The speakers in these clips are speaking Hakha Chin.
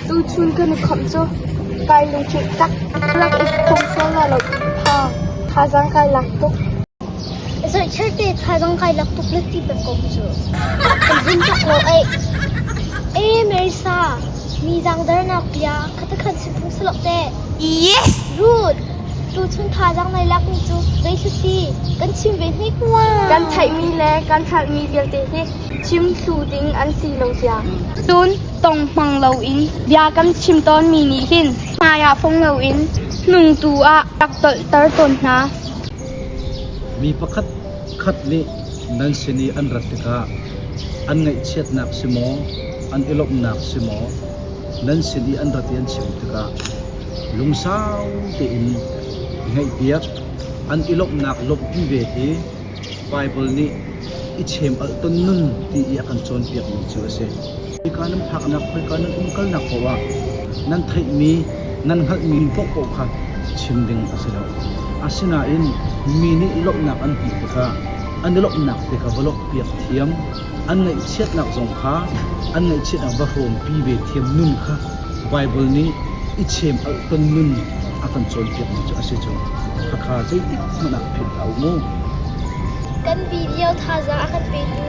Tuchun kan i khamh cu kai lungṭil tak, rak i pum sual la lo in thazaang kai lak tuk. Kan theihmi le kan hralhmi vialte hi chim thlu ding an si lo cia. Cun tong hmang loin bia kan chim tawnmi nih hin hmaiah fong loin hnungtu ah rak tolhter tawn hna. Mi pakhat khat nih nan sin i an rat tikah an ngaihchiatnak si maw, an i lawmhnak si maw, nan sin i an rat i an chim tikah lungsau tein i ngaihpiak, an i lawmhnak lawmhpi ve hi Baibal nih i chem'alh ton nun ti i a kan cawnpiakmi cu a si. Khoika nan phaknak, khoika nan umkalnak paohah nan theihmi, nan hngalhmi paohpaoh kha chim ding a si lo. Asinain mi nih i lawmhnak an hmuh tikah an i lawmhnak te kha va lawmhpiak thiam. an ngaihchiatnak zong kha an ngaihchiatnak va hrawmpi ve thiam nun kha Baibal nih i chem alh ton nun a kan cawnpiakmi cu a si cu. Khakha zeitik hmanh ah philh a um u. Kan video thazaang a kan petu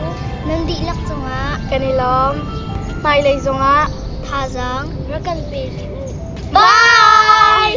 nan dihlak cungah kan i lawm. Hmailei zongah thazaang rak kan pe dih u. Bye!